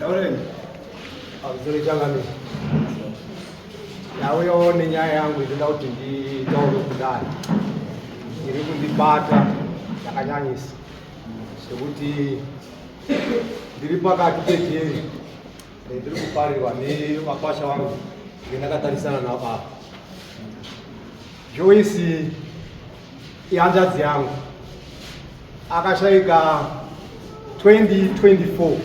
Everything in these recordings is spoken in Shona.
Taureni. Amzuri changami. Yauyo nenyaya yangu inoda kuti nditaure kudai. Iri kundibata yakanyanyisa zvekuti ndiri pakati pejeri ndiri kuparirwa nevakwasha vangu ndendakatarisana navo apa. Joyce ihanzvadzi yangu. akashaika 2024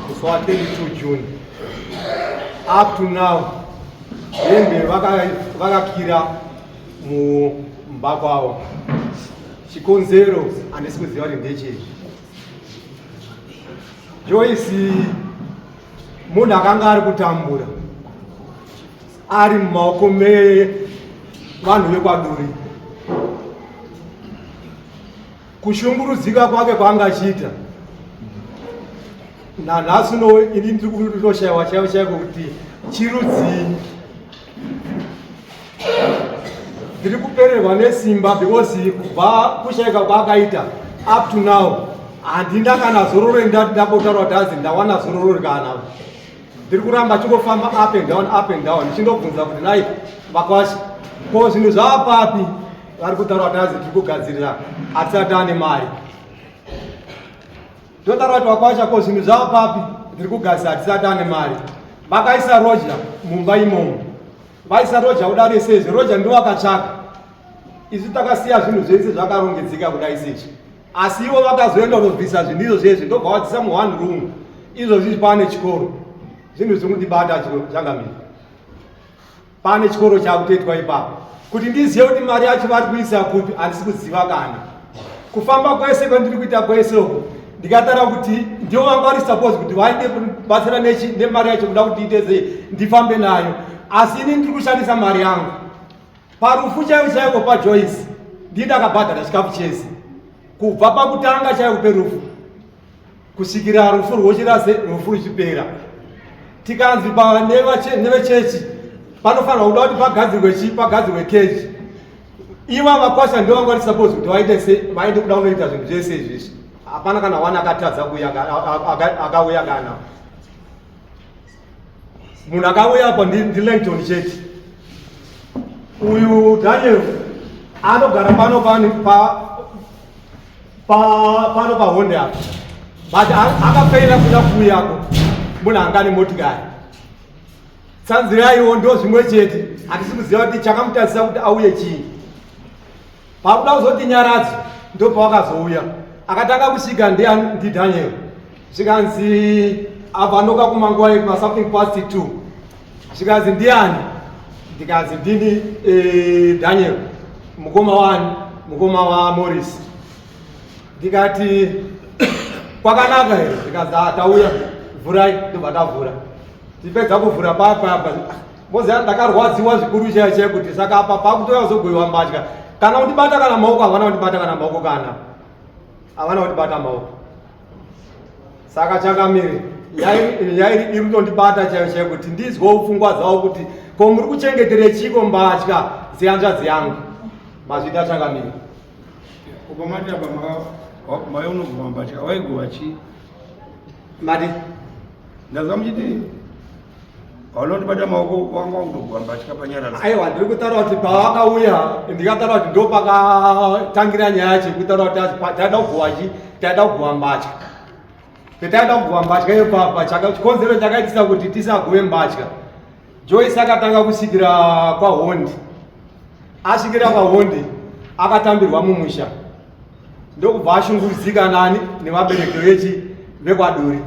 kusowa 22 june up to now hembe vakakira mumba kwavo chikonzero handisi kuziva kuti ndechei joyce munhu akanga ari kutambura ari mumaoko mevanhu vekwaduri kushungurudzika kwake kwaanga achiita nanhasi uno ini ndiri kutoshaiwa chaivo chaiko kuti chirudzii ndiri kupererwa nesimba because kubva kushaika kwaakaita up to now handina kana zororo ndati ndakotaura kuti azi ndawana zororo rikana ndiri kuramba chingofamba up and down up and down ndichindobvunza kuti nai vakwasha ko zvinhu zvava papi vari kutaura kuti azi tiri kugadzirira atisati ane mari ndotaura kuti vakwasha ko zvinhu zvava papi ndiri kugadzirira atisati ane mari vakaisa roja mumba imomo vaisa roja kuda resezve roja ndiwo akatsvaka isu takasiya zvinhu zvese zvakarongedzeka kuda isechi asi ivo vakazoenda kunobvisa zvinhu izvo zvese ndobva wadzisa mu one room izvo zvizi pane chikoro zvinhu zviri kundibata zvakamira pane chikoro chakutoitwa ipapo kuti ndizive kuti mari yacho vari kuisa kupi handisi kuziva kana kufamba kwese kwandiri kuita kwese uku ndikatara kuti ndivo vanga vari suppose kuti vaite kubatsira nemari yacho kuda kuti iteze ndifambe nayo asi ini ndiri kushandisa mari yangu Parufu chaipo chaipo paJoyce ndini ndakabhadhara chikafu chese kubva pakutanga chaipo perufu kusvikira rufu rwochirase rufu ruchipera tikanzi nevechechi panofanirwa kuda kuti pagadzirwe chi pagadzirwe kechi iva vakwasha ndo vanga vari suppose kuti vaite se vaende kuda kunoita zvinhu zvese izvizvi hapana kana wani akatadza kuuya akauya kana munhu akauya apa ndilangton chete uyu daniel anogara pano pani pano pahonde apa but akafeila kuda kuuyako munhu anga ne motikari tsanziraiwo ndo zvimwe chete hatisi kuziva kuti chakamutasisa kuti auye chii pakuda kuzoti nyaradzo ndopawakazouya akatanga kusvika ndidaniel zvikanzi abva ndoka kumanguva yekuma something past two zvikanzi ndiani ndikanzi ndini eh, daniel mukoma wani mukoma wamoris ndikati kwakanaka here zvikanzi ah, tauya vhurai ndobva tavhura tipedza kuvhura papa apa Mozi yangu ndakarwadziwa zvikuru chaiye chaiye kuti saka apa pakutoya kuzogoiwa mbatya kana kundibata kana maoko havana kundibata kana maoko kana havana kundibata maoko saka changamiri yairi iri kutondibata chaiyo chaiyo kuti ndizwewo pfungwa dzavo kuti ko muri kuchengetere chiko mbatya dzehanzvadzi yangu mazvita changamiri uko mati apa mayo unoguma mbatya waigova chii mati Ndazwa muchiti vanondibata maoko vanga vakutogwa mbatya panyarara. Aiwa ndiri kutaura kuti pavakauya ndikataura kuti ndopakatangira nyaya yacho kutaura kuti taida kugowa chi taida kugowa mbatya. Petaida kugowa mbatya iyo papa chikonzero chakaitisa kuti tisagove mbatya. Joyce akatanga kusvikira kwahondi asvikira kwahondi akatambirwa mumusha ndokubva ashungurudzika nani nevabereki vechi vekwaduri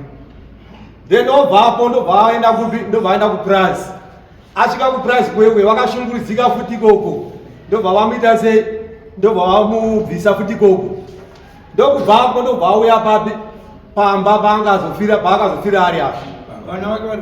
then obvapo ndobva aenda kupi ndobva aenda kupurazi asvika kupurazi kwekwe vakashungurudzika futi ikoko ndobva vamuita sei ndobva vamubvisa futi ikoko ndokubvapo ndobva auya papi pamba paangazofira paakazofira ari apo vana vake vari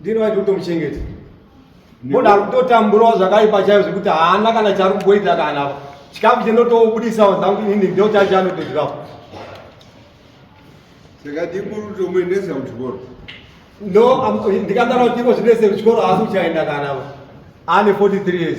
Ndini waiti utomuchengeta. Mbona ari kutotamburawo zvakaipa chaizvo zvekuti haana kana chaari kumboita kana apa. Chikafu chendotobudisawo dzangu inini ndo chacho anotodirapo. Saka ndikuru kutomuendesa kuchikoro. No, ndikatara kuti ivo zvinoise kuchikoro haasi kuchaenda kana apa. Ane 43 years.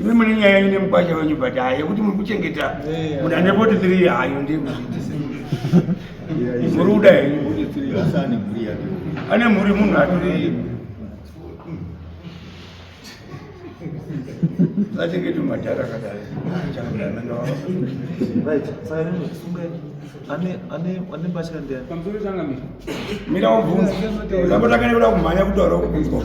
Imi mune nyaya yenyu nemukwasha wenyu but hayi yekuti muri kuchengeta muna nepoti three hayo ndiye kuzviitisa. Muri kuda henyu. Ane mhuri munhu atori vachengeti madhara kadai mira ubvunza ndapota kane kuda kumhanya kutaura kubvunzwa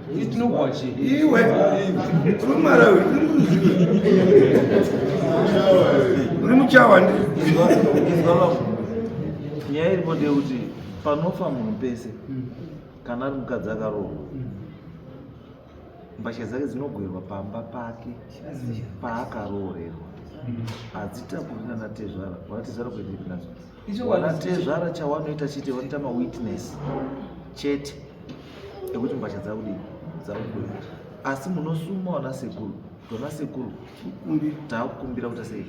itinogwachi iwe kumarawi uri muchawa nyaya iripo ndeyekuti panofa munhu pese kana ari mukadzi akarohwa mbatya dzake dzinogwerwa pamba pake paakaroorerwa hadzitakurina natezvara vanatezvara kuendekinadzo vanatezvara chawanoita chete vanoita mawitness chete ekuti mbatya dzakudii dzakubuda asi munosuma vana sekuru tona sekuru takukumbira kuita sei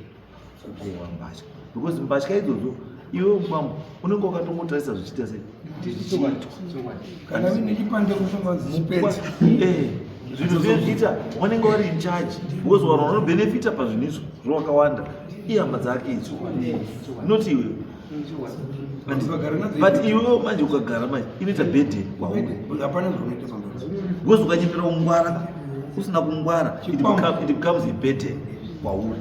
kugowa mbatya because mbatya idzodzo iwe mumambo unenge wakatongotarisa zvichiita sei kana vine chipande kushonganzi chipenzi eh, zvinhu zvezviita wanenge wari in charge because vanhu vanobenefita pazvinhu izvo zvowakawanda ihama dzake idzo not iwe but iwewo manje ukagara manje inoita bede kwaunehapana zvaunoita because ukanyepera kungwara usina kungwara it becomes a bede kwauri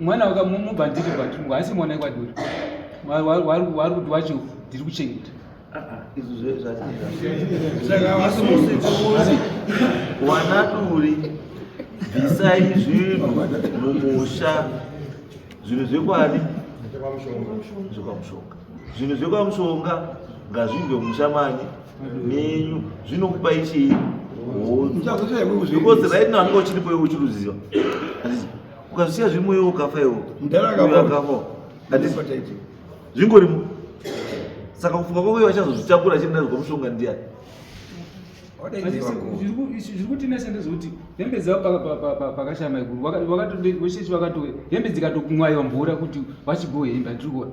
mwana waka mubva ndiri kwati haisi mwana ekwaduri wari kuti wacho ndiri kuchengeta wanaduri bvisai zvinhu mumusha zvinhu zvekwani zvekwamushonga zvinhu zvekwamushonga ngazvinge musha mani menyu zvinokupa ichii because right now anenge uchiripoiwe uchiruziva ukazvisiya zviri moyo ukafa iwo akafa zvingorimo saka kufunga kwako vachazozvitakura achienda zvikwa mushonga ndiya zviri kutinesa ndezvekuti hembe dzavo pakashaya maiguru vakatohembe dzikatokumwaiwa mvura kuti vachigohembe atiri kuona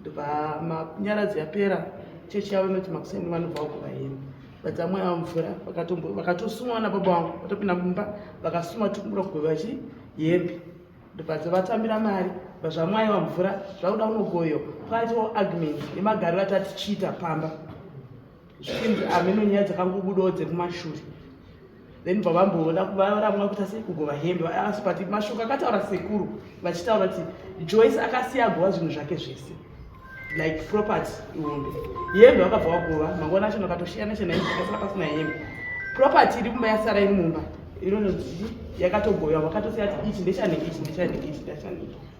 ndobva manyaradzi yapera chechi yavo inoti makuseni vanobva kuva hini vadzamwe avo mvura vakatosuma vana baba vangu vatopinda mumba vakasuma tikura kugova chi hembe ndobva dzavatambira mari vazvamwaiwa mvura zvakuda unogoyo kwaitiwo argument nemagariro atatichiita pamba zvichinzi hameno nyaya dzakangobudawo dzekumashure then bavamboona varamwa kuita sei kugova hembe asi but mashoko akataura sekuru vachitaura kuti joyce akasiya agova zvinhu zvake zvese like property ihombe hembe vakabva vagova mangwana acho ndakatoshiyana chena hembe akasara pasina hembe property iri kumba yasara iri mumba inononzi yakatogoywa vakatosiya kuti ichi ndechane ichi ndechane ichi ndechane ichi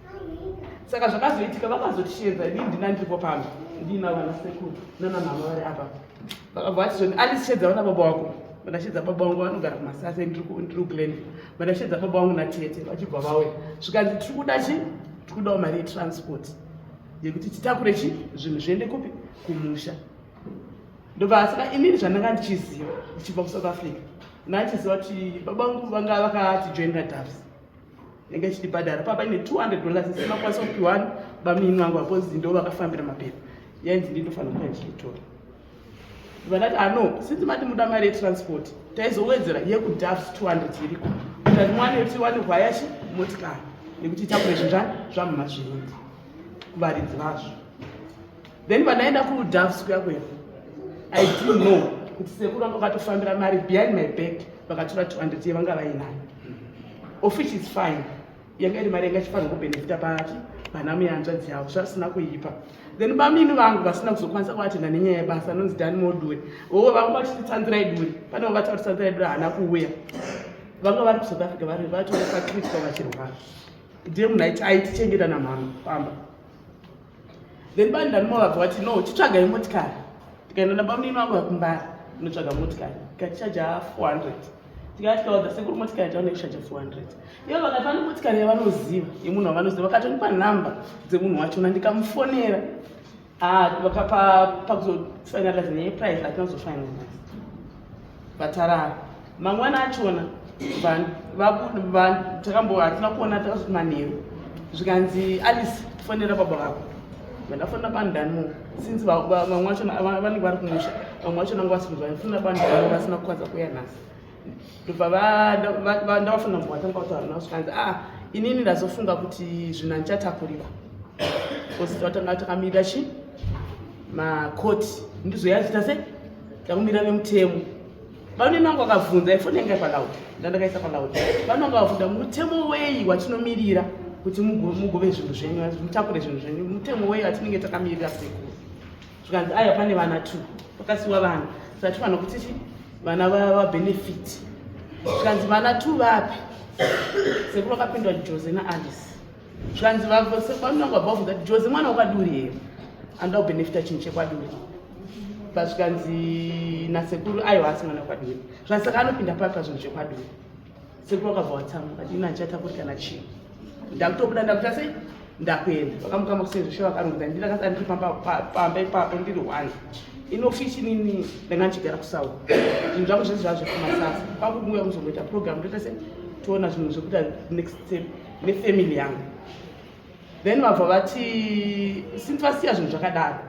saka zvakazoitika vakazotisheedza ini ndina ndiripo pano ndiina vana sekuru nana mama vari apa vakabva vati zvoni andisheedza vana baba wako vandasheedza baba wangu vanogara kumasase ndiri kugland vandasheedza baba wangu natete vachibva vauya zvikanzi tiri kuda chi tiri kudawo mari yetransport yekuti titakure chi zvinhu zviende kupi kumusha ndobva saka inini zvandanga ndichiziva ndichibva kusouth africa ndandichiziva kuti baba wangu vanga vakatijoinira dafs ndenge ndichitibhadhara papa ine 200 dollars isina kwanisa kupiwani bamini vangu vakozi ndo vakafambira mapepa yainzi ndindofanira kuva ndichiitora vanati ano ah, since mati muda mari yetransport taizowedzera yekudafs 200 iriko kutati mwana yekuti wani hwayashi motikari nekuti itakure zvinzvani zvamumazviindi kuvaridzi vazvo then pandaenda kudavs kuya kuya i do know kuti sekuru vanga vakatofambira mari behind my back vakatora 200 yevanga vainayo of which is fine yanga iri mari yanga ichifanira kubenefita pati vana muyanzvadzi yavo zvasina kuipa then bamini vangu vasina kuzokwanisa kuvatenda nenyaya yebasa anonzi dani modure oo vanga vachiti tsanzirai duri pane vavati vati tsanzirai duri haana kuuya vanga vari kusouth africa vari vatorepacritika vachirwara ndiye munhu aiti aitichengeta namhama pamba then bani ndanuma vabva vati no chitsvagai motikari tikaenda nabamnini vangu vakumbara inotsvaga motikari ikatichaja 400 tikatikaudza sekuru motikari taona kushaja 400 ivo vakati vane motikari yavanoziva yemunhu wavanoziva vakatonipa nhamba dzemunhu wachona ndikamufonera ah, vakapakuzofinaliza neprice atinozofinaliza vatarara mangwana achona takambo hatina kuona takazoti manheru zvikanzi alice fonera baba vako vandafonera bandani since vamwe vachona vanenge vari kumusha vamwe vachona ngo vasinzwa vafonera bandani vasina kukwanisa kuya nhasi ndobva ndavafonera mbo vatanga kutaura navo zvikanzi a ah, inini ndazofunga kuti zvinhu handichatakurira bcause vatanga takamirira chi makoti ndizoyazita se Takumira vemutemo vanonena wangu akabvunza ifoni yanga paloud ndandakaisa paloud vanonga vakabvunza mutemo wei watinomirira kuti mugove zvinhu zvenyu mutakure zvinhu zvenyu mutemo wei watinenge takamirira sekuru zvikanzi aya pane vana two pakasiwa vana saka tifanira kuti ti vana vabenefit zvikanzi vana two vapi sekuru akapindwa jose naalice zvanzi vasekwananga above that jose mwana wakaduri here anoda kubenefita chinhu chekwaduri pazvikanzi nasekuru aiwa asi mwana wakaduri zvanzi saka anopinda papi pazvinhu zvekwaduri sekuru wakabva watsamu kati ino andichata kuri kana chii ndakutobuda ndakuta sei ndakuenda vakamukama kusezvishe vakarongda ndiri akasara ndiri pamba ipapo ndiri one inofishi nini ndanga ndichigara kusawa zvinhu zvangu zvese zvazvekumasasa kwakubuya kuzongoita program ndoita se toona zvinhu zvekuita next step nefamily yangu then vabva vati since vasiya zvinhu zvakadaro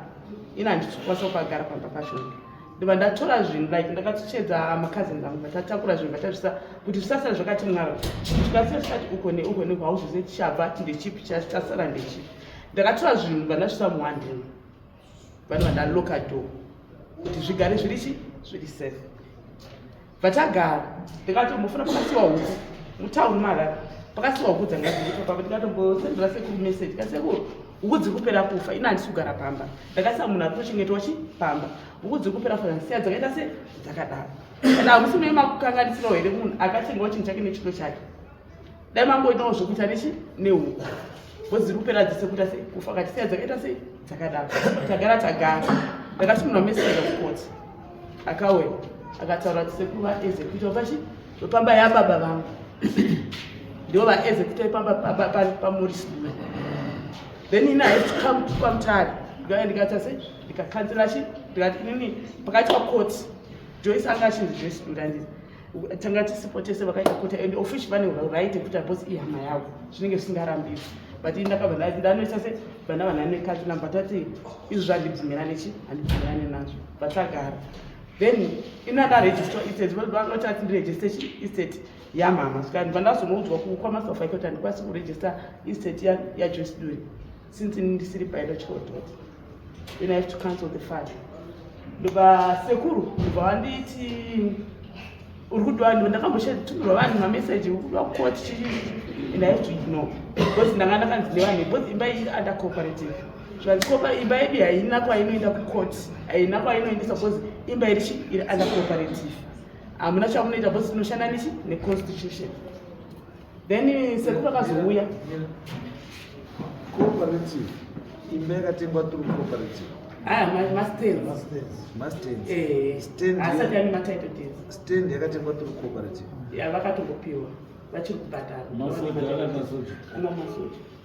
ini handizokwanisa kukagara pamba pacho ndiva ndatora zvinhu like ndakatochedza makazini vangu vatatakura zvinhu vatazvisa kuti zvisasara zvakati mwaro zvikasira zvisati uko neuko neuko hauzoze tichabva tindechipi chasara ndechipi ndakatora zvinhu vandazvisa muhandini vanova ndaloka do kuti zvigare zviri chi zviri safe vatagara ndikatombofuna pakasiwa huku mutown mara pakasiwa huku dzangaiipapa ndikatombosendera sekuru message kasekuru huku dziri kupera kufa ina handisi kugara pamba ndakasiya munhu ari kutochengetwa chi pamba huku dziri kupera kufa ndasiya dzakaita se dzakadaro and hamusi mune makukanganisirawo here munhu akatengawo chinhu chake nechito chake dai mangoitawo zvekuita nechi nehuku bhozi riri kupera dzese kuita sei kufa kachisiya dzakaita sei dzakadaro tagara tagara ndakatumirwa message of court akauya akataura kuti sekuru vaezekuita vachi vepamba yababa vangu ndivo vaezekuita ipamba pamuri sikume then ini have to come to kwamutari ndikauya ndikaita sei ndikakanzira chi ndikati inini pakati pakoti joyce anga achinzi joyce ndandii tanga tisipo tese vakaita kota and offici vane right yekuti abos ihama yavo zvinenge zvisingarambisi but ini ndakabva ndanoisa se vana vanhani nekati namba tati izvi zvandibvumirane chi handibvumirane nazvo but tagara then ina ndaregista istate vanoti ati ndiregiste chi istate yamama saka ndibva ndazonoudzwa kukwamasofa ikoti handikwanisi kuregista istate yajoyce duri since ini ndisiri biological daughter then i have to cancel the father ndobva sekuru ndobva vanditi uri kudiwa ndivo ndakamboshetumirwa vanhu mameseji ukudiwa kuwa tichii and i have to ignore because ndanga ndakanzi nevanhu because imba iyi under cooperative zvandikopa imba yedu haina kwainoenda kucourt haina kwainoendesa because imba irichi iri under cooperative hamuna chamunoita because tinoshanda nichi neconstitution then sekuru vakazouya cooperative imba yakatengwa turu cooperative ah, stand yakatengwa turu cooperative vakatongopiwa vachiri kubhadhara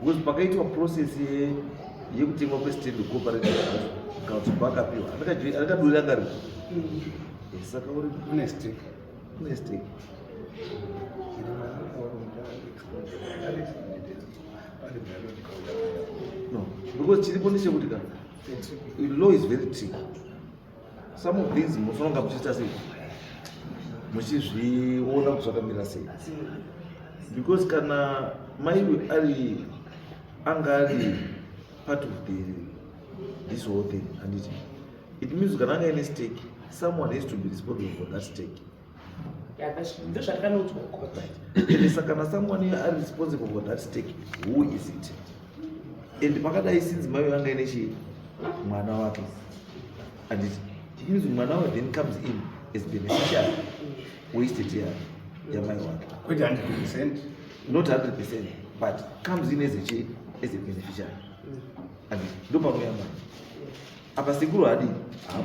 Because pakaitwa process ye yekutengwa kwestand cooperative council paakapiwa akadurira ngari mm. saka uri kune stake kune stake no because chiripo ndechekuti ka law is very tricky some of these munofanira kuchiita sei muchizviona kuti zvakamira sei because kana maiwe ari anga ari part of the this whole thing handiti it means kana anga ine stake someone has to be responsible for that stake ndozvatakanodzwa kuisa kana someone are responsible for that stake who is it and pakadai since mai vanga ine chii mwana wake and it means mwana wake then comes in as beneficial wasted ya yamai wake kwete 100 percent not 100 percent but comes in as a chii as a beneficial and ndopanouya mwana apa sekuru hadi hapo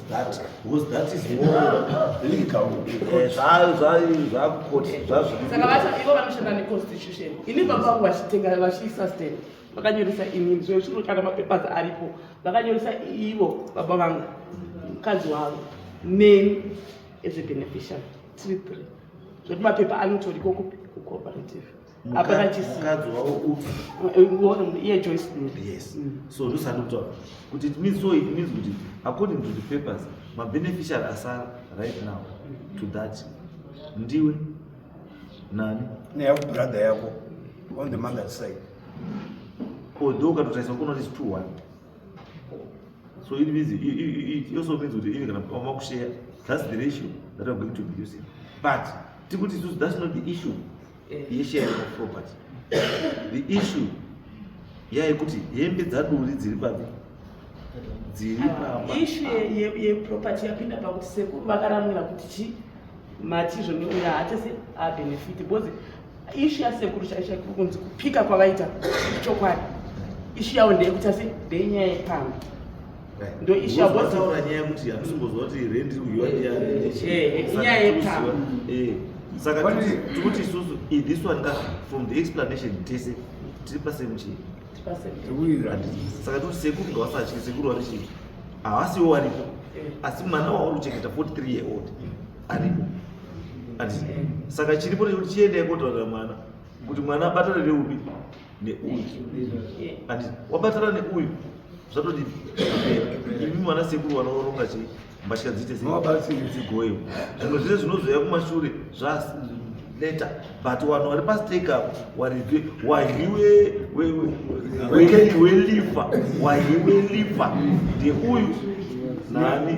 that was that is more legal zvayo zvayo zvakoti zvazvo saka vati ivo vanoshanda ne constitution ini baba vangu vachitenga vachiisa stand vakanyoresa inini zvoyo chiro kana mapapers aripo vakanyoresa ivo baba vangu mukadzi wavo neni as a beneficiary tiri three zvekuti mapepa anotoriko kupi kucooperative hapana chisimukadzi wavo upi eh, iye joyce duri yes mm. so ndosati kutaura kuti it means so it means kuti according to the papers mabeneficial asara right now to that ndiwe nani neyako brother yako on the mother side although ukatotarisa kunoti is two one so it means it, it, it, it also means kuti ive kana pama kushare that's the ratio that i'm going to be using but tikuti that's not the issue yeshare of property the issue yaikuti hembe dzaduri dziri papi dziri pamba ishu yeproperty yapinda pakuti sekuru vakaramwira kuti chi matizvo neuya haachase abenefiti because ishu yasekuru chaisha kuri kunzi kupika kwavaita chokwadi ishu yavo ndeyekuti ase ndenyaya yepamba ndoishabotaura nyaya yekuti hatisimboziva kuti rent iri kuyiwa ndiyani inyaya yepamwe saka tikuti isusu this one ka from the explanation tese tiri pasemuchii saka tikuti sekuru ngavasatye sekuru vari chii havasiwo varipo asi mwana wauri kuchengeta 43 year old aripo saka chiripo nekuti chiendai kotaurira mwana kuti mwana abatanire upi neuyu and wabatana neuyu zvatoti imi mwana sekuru vanoronga chii mbatya dziite seidzigoyo zvimwe zvese zvinozoya kumashure zvaneta but vanhu vari pastake apo warive wahiwe welifa wahiwe lifa ndeuyu nani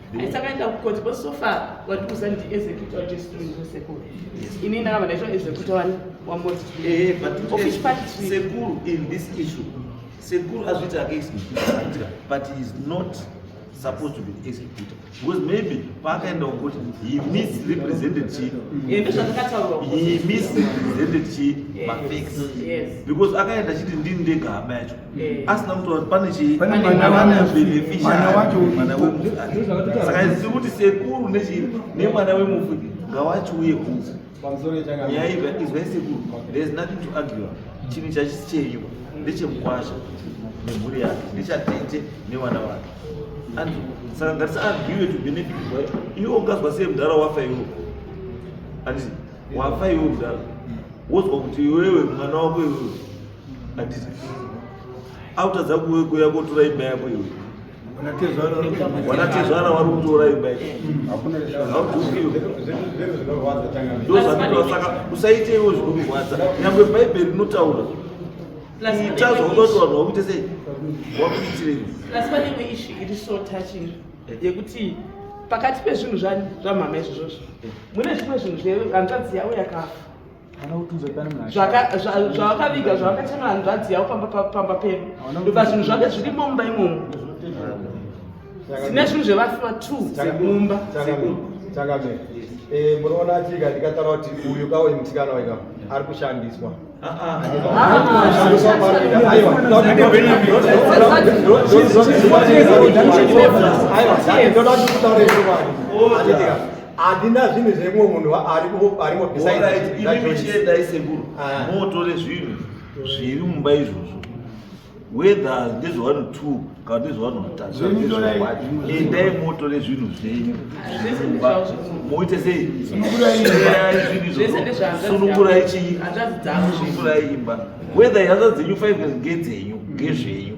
aisakaenda kukoti but so far watiuza ndi executor wajesusekuru ini ndakava ndaitwa executor wani wamotioffice eh, party sekuru in this issue sekuru azviti ake executor but he is not supposed to be executed because maybe paakaenda kuti he misrepresented chi he misrepresented chi mafacts because akaenda chiti ndini ndega hama yacho Eh. asina kutaura kuti pane chii Pane mwana Mwana wacho. wacho beneficiary. Mwana wacho. Mwana wemufi Ndozvakatotaura. saka zvichiri kuti sekuru nechii nemwana wemufi ngawachiuye kunze pamusoro yechakanga nyaya iyi izwai sekuru there is nothing to argue chinhu chachisi cheiwa ndechemukwasha nemhuri yake ndechatete nevana vake and saka ngatisaargue to benefit wacho iwe ungazwa sei mudhara wafa iwo anditi wafa iwo mudhara wozwa kuti iwewe mwana wako iwewe autadza kuwe kuya kotora imba yako iwe wanatezvara wari kutora imba ndozvandosaka usaite iwo zvinomurwadza nyangwe bhaibheri rinotaura ita zvakuda kuti vanhu vakuite sei wakuitirei asi panenge ishi iri so touching yekuti pakati pezvinhu zvamhama izvozvozvo mune zvimwe zvinhu zvehanzvadzi yavo yakafa zvawakaviga zvawakachema hanzvadzi yavo pamba pedu ndoba zvinhu zvake zviri mumba imomo tine zvinhu zvevafiwa two dzemumba chakame eh, munoona chika ndikatara kuti uyu kawo imusikana waika ari kushandiswa aiwa ndoda kuti kutaura izvo vanhu handina zvinhu zvemumwe munhu arimo besidechiendai sekuru ah. motore zvinhu zviri mumba izvozvo whether ndezve one two kana ndezve one taendai motore zvinhu zvenyu zvimumba moite sei sunukurai chii sunukurai imba whether hanza dzenyu five ngedzenyu ngezvenyu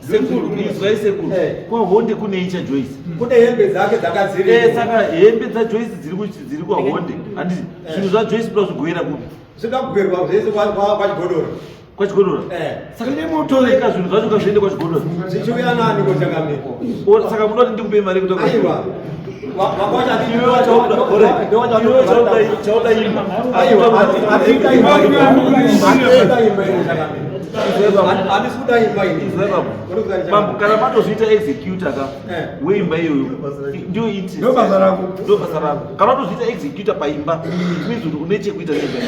sekuru muizwai sekuru eh. kwahonde kune icha joyce hmm. kune hembe dzake dzakadziri eh, saka hembe dzajoyce dziri kwahonde eh. handiti zvinhu zvajoyce kuda zvigoera kupi zvikagoerwa zvese kwachigodora kwachigodora saka nemotoreka zvinhu zvacho kazviende kwachigodora zvichiuya nani kochakamiko saka muda kuti ndikupe mari yekutoaiwa mambo kana matozviita executor ka eh. weimba iyoyo ndio ndio basa rako kana matozviita executor paimba it means kuti une chekuita neimba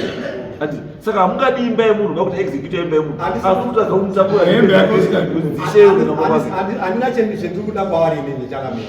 ati saka hamungadi imba yemunhu kakuti executor imba yemunhu akutotadza kumutambura hembe yako isikadzi dzisheyo kana mabasa andina chendiri kuda kwavari nini chakamira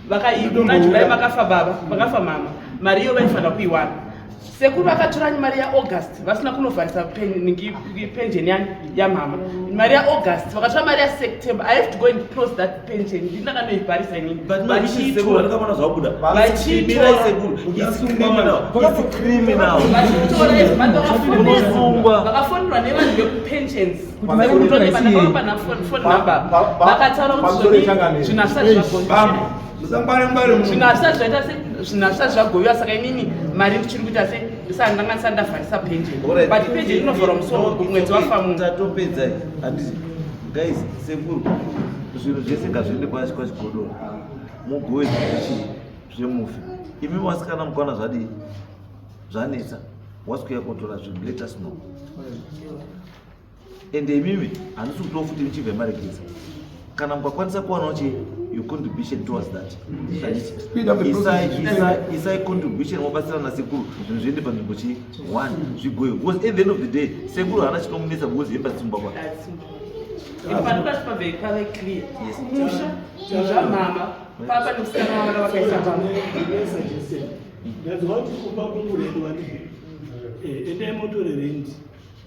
vakaigona july vakafa baba vakafa mama mari iyo vaifanira kuiwana sekuru vakatoranyi mari yaaugust vasina kunovharisa pension yani yamama mari yaaugust vakatora mari yaseptember i have to go and close that pension ndii ndakanoivharisa inivakafoniwa nevanhu vekupensions zvinasha zvagoviwa saka inini mari ndichiri kuita se ndisandanganisa ndavharisa penjeni but penjeni inovharwa musoro mwedzi wafamutopedzai handii guys sekuru zvinhu zvese ngazviende kwachi kwachigodoro mugoe zvii zvemufi imi vasikana mukwana zvadii zvanetsa wasikuya kotora zvinhu let us know ende imimi handisi kutiwo futi ndichibve maregedza kana mukakwanisa kuwanawo che your contribution towards that isai contribution mobatsira nasekuru zvinhu zviende panzvimbo chi one zvigoyo because at the end of the day sekuru haana chinomunetsa because hemba dzitsumba kwa papa nomusikana wavana vakaisa pamwe ndadzwa kuti kupa kunguredu vanei endai motore rendi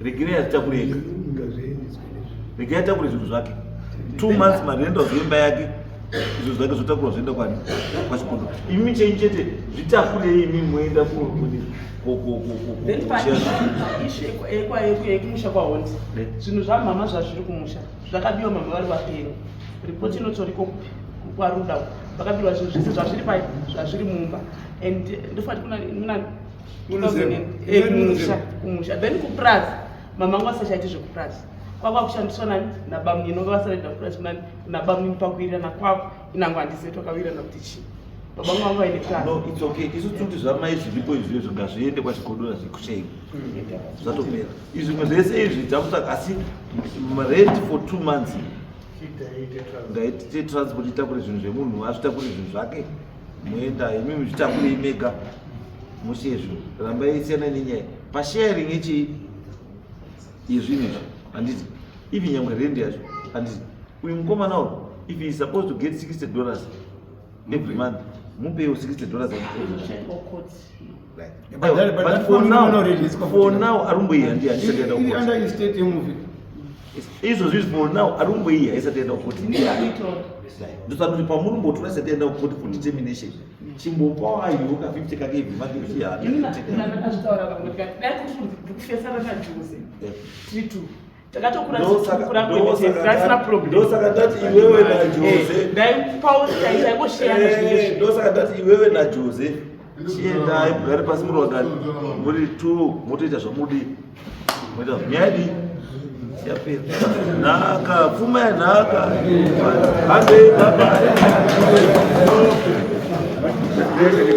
regerei azitakure ega regerei atakure zvinhu zvake two months marendo azoimba yake izvo zvake zvotakurwa zvoenda kwani kwachikondo imi chenyu chete zvitakurei imi moenda kunokumusha kwahondi zvinhu zvamhama zvazviri kumusha zvakabiwa mama vari vapenyu ripoti inotoriko kupi kwaruda vakabirwa zvinhu zvese zvazviri pai zvazviri mumba and ndofanira kuna kumusha kumusha then kupurazi mama angu asachaiti zvekupurazi kwakwa kushandiswa nani nabamunini vanga vasaida kupurazi kunani nabamunini pakuwirirana kwako inango handisei twakawirirana kuti chii baba vangu vanga vaine purazi no it's okay isu tikuti zvamai zviripo izvi izvo ngazviende kwachigodora zvekushei zvatopera izvi zvimwe zvese izvi takutsvaga asi rent for two months ngaitite transport itakure zvinhu zvemunhu azvitakure zvinhu zvake moenda imi muzvitakurei mega musizvo rambai siyana nenyaya pasharing yechii yezvinhu izvi handiti ivi nyangwe rend yacho handiti uyu mukomana uyu if he is supposed to get 60 dollars every month mupeiwo 60 dollars izvo zvizi for now ari kumboiya isati enda kuti ndosati pamurumbotu vasati enda kuti for determination chimbopawo ayoka 50 kake ibvi make uchiyaa ndosaka ndati iwewe najose chiendai mugare pasi murondani muri t motoita zvamudi moita nyadi yapera nhaka pfuma yanhaka handei baba